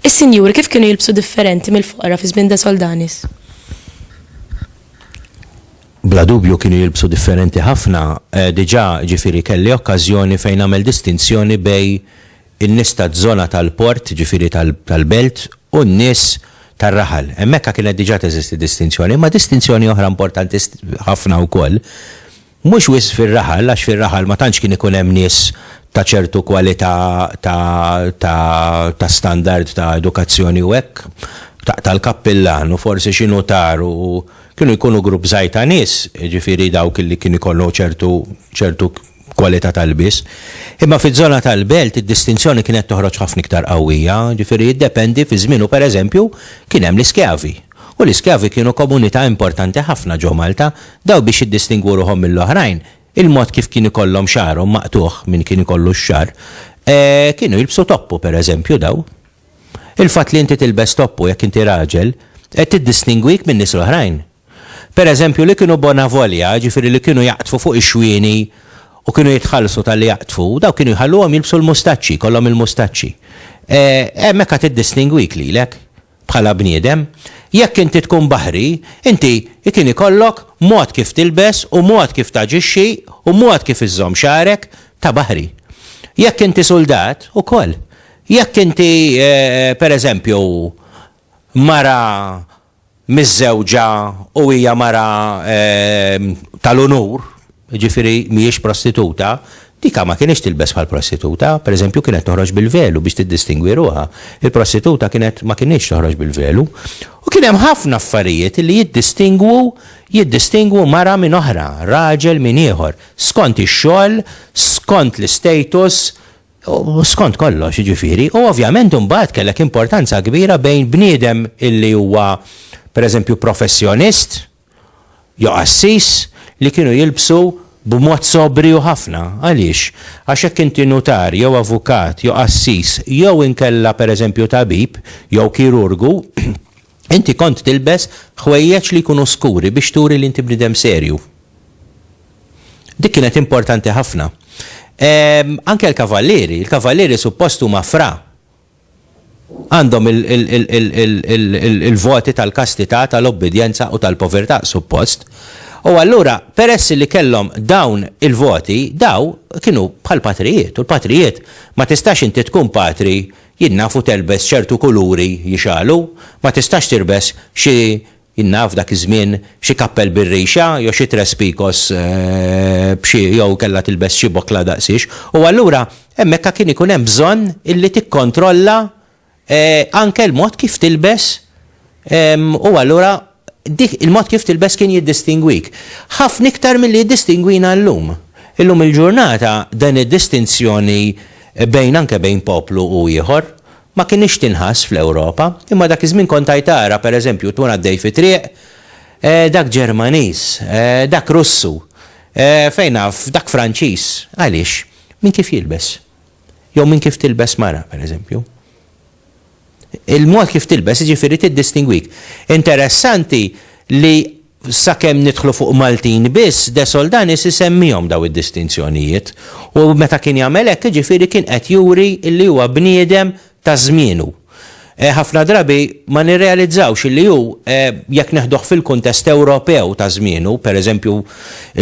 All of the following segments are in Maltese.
Is-sinjuri kif kienu jilbsu differenti mill-foqra fi żmien Soldanis? Bla dubju kienu jilbsu differenti ħafna, eh, diġà ġifieri kelli okkażjoni fejn nagħmel distinzjoni bej in-nies taż-żona tal-port, jiġifieri tal-belt, u n-nies tar-raħal. Hemmhekk kienet diġà teżisti distinzjoni, imma distinzjoni oħra importanti ħafna wkoll, mhux wisq fir-raħal, għax fir-raħal ma tantx kien ikun hemm nies ta' ċertu kwalità ta' standard ta' edukazzjoni u hekk, taqta' l-kappillan u forsi xi nutar u kienu jkunu grupp żgħir ta' nies, jiġifieri dawk li kienu jkollhom ċertu kwalità tal-lbies. Imma fiż-żona tal-Belt id-distinzjoni kienet toħroġ ħafna iktar qawwija, ġifieri jiddependi fi żmienu pereżempju kien hemm l-iskjavi, u l-iskjavi kienu komunità importanti ħafna ġo Malta, dawn biex jiddistingwu ruħhom mill-oħrajn, il-mod kif kien ikollhom xagħarhom maqtugħ, min kien ikollu x-xagħar, kienu jilbsu toppu pereżempju daw. Il-fatt li inti tilbes toppu jekk inti raġel, qed tiddistingwik min-nies l-oħrajn. Per eżempju, li kienu bona volja, jiġifieri li kienu jaqdfu fuq ix-xwieni u kienu jitħallsu talli jaqdfu, dawk kienu jħalluhom jilbsu l-mustaċċi, jkollhom il-mustaċċi. E, hemm hekk għad iddistingwik lilek, bħala bniedem. Jekk inti tkun baħri, inti kien ikollok mod kif tilbes u mod kif taġixxi u mod kif iżżomm xagħrek ta' baħri. Jekk inti suldat, ukoll. Jekk inti, e, per eżempju, mara miżżewġa u hija mara tal-unur, jiġifieri mhijiex prostituta, dika ma kinitx tilbes bħal prostituta, pereżempju kienet toħroġ bil-velu biex tiddistingwi ruħha. Il-prostituta kienet ma kinitx toħroġ bil-velu. U kien hemm ħafna affarijiet li jiddistingwu jiddistingwu mara minn oħra, raġel minn ieħor, skont ix-xogħol, skont l-istatus, U skont kollox, jiġifieri, u ovvjament imbagħad kellek importanza kbira bejn bniedem illi huwa pereżempju professjonist jew qassis li kienu jilbsu b'mod sobriju ħafna. Għaliex? Għax jekk inti nutar jew avukat jew qassis jew inkella pereżempju tabib jew kirurgu, Inti kont tilbes ħwejjeġ li jkunu skuri biex turi li inti bniedem serju. Dik kienet importanti ħafna. Anke l-kavallieri, il-kavallieri suppost huma fra. Għandhom il-voti tal-kastità, tal-obbidjenza u tal-povertà, suppost. U allura, peress li kellhom dawn il-voti, daw kienu bħall-patrijiet. U l-patrijiet, ma tistax inti tkun patri Jien naf u telbes ċertu kuluri jixgħalu, ma tistax tirbes xi, jien naf dak iż-żmien, xi kappell bir-rixa jew xi tres picos b'xi jew kellha tilbes xi bokla daqsiex. U allura hemmhekka kien ikun hemm bżonn illi tikkontrolla anke l-mod kif tilbes U allura dik il-mod kif tilbes kien jiddistingwik. Ħafna iktar milli jiddistingwina llum. Illum il-ġurnata din id-distinzjoni bejn anke bejn poplu u ieħor ma kinitx tinħass fl-Ewropa. Imma dak iż-żmien kont għaj tara, per eżempju, tkun għaddej fi triq, eh, dak Ġermaniż, eh, dak Russu, eh, fejn naf, dak Franċiż. Għaliex? Minn kif jilbes. Jew minn kif tilbes mara, per eżempju. Il-mod kif tilbes jiġifieri tiddistingwik. Interessanti li sakemm nidħlu fuq Maltin biss, De Soldanis isemmihom dawn id-distinzjonijiet. U meta kien jagħmel hekk jiġifieri kien qed juri li huwa bniedem ta' żmienu. Ħafna drabi ma nirrealizzawx li hu, jekk neħduh fil-kuntest Ewropew ta' żmienu, pereżempju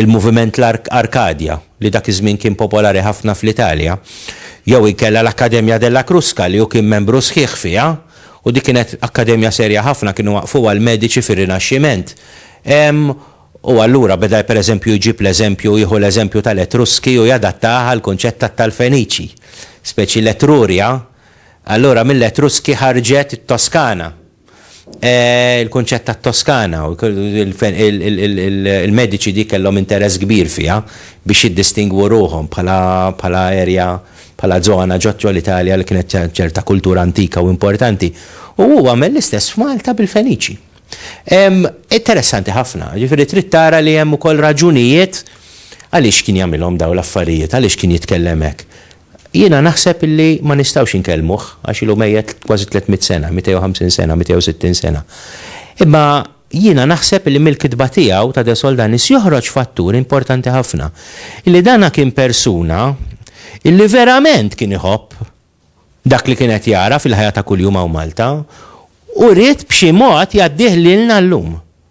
l-moviment Arkadja. li dak iż-żmien kien popolari ħafna fl-Italja, jew inkella l-Accademia della Crusca li hu kien membru sħiħ fiha, u dik kienet akkademja serja ħafna, kienu waqqfuha l-mediċi fir-Rinaxximent. Ehm, u allura beda pereżempju jġib l-eżempju, jieħu l-eżempju tal-Etruski u jadattah għall-kunċett tat-tal-Feniċi. Speċi l-Etruria, allura mill-Etruski ħarġet it-Toskana. Il-kunċett tat-Toskana, il-mediċi dik kellhom interess kbir fiha biex jiddistingwu ruħhom bħala area, bħala żona ġo l-Italja li kienet ċerta kultura antika u importanti. U hu għamel l-istess f'Malta bil-Feniċi. Interessanti ħafna, jiġifieri trid tara li hemm ukoll raġunijiet għaliex kien jagħmilhom dawn l-affarijiet, għaliex kien jitkellem hekk. Jiena naħseb li ma nistgħux inkellmuh għax ilu mejjet kważi tliet mitt sena, 250 sena, 260 sena. Imma jiena naħseb li mill-kitba tiegħu ta' De Soldanis joħroġ fattur importanti ħafna, li dan kien persuna li verament kien iħobb dak li kien qed jara fil-ħajja ta' kuljum hawn Malta u ried b'xi mod jgħaddih lilna llum.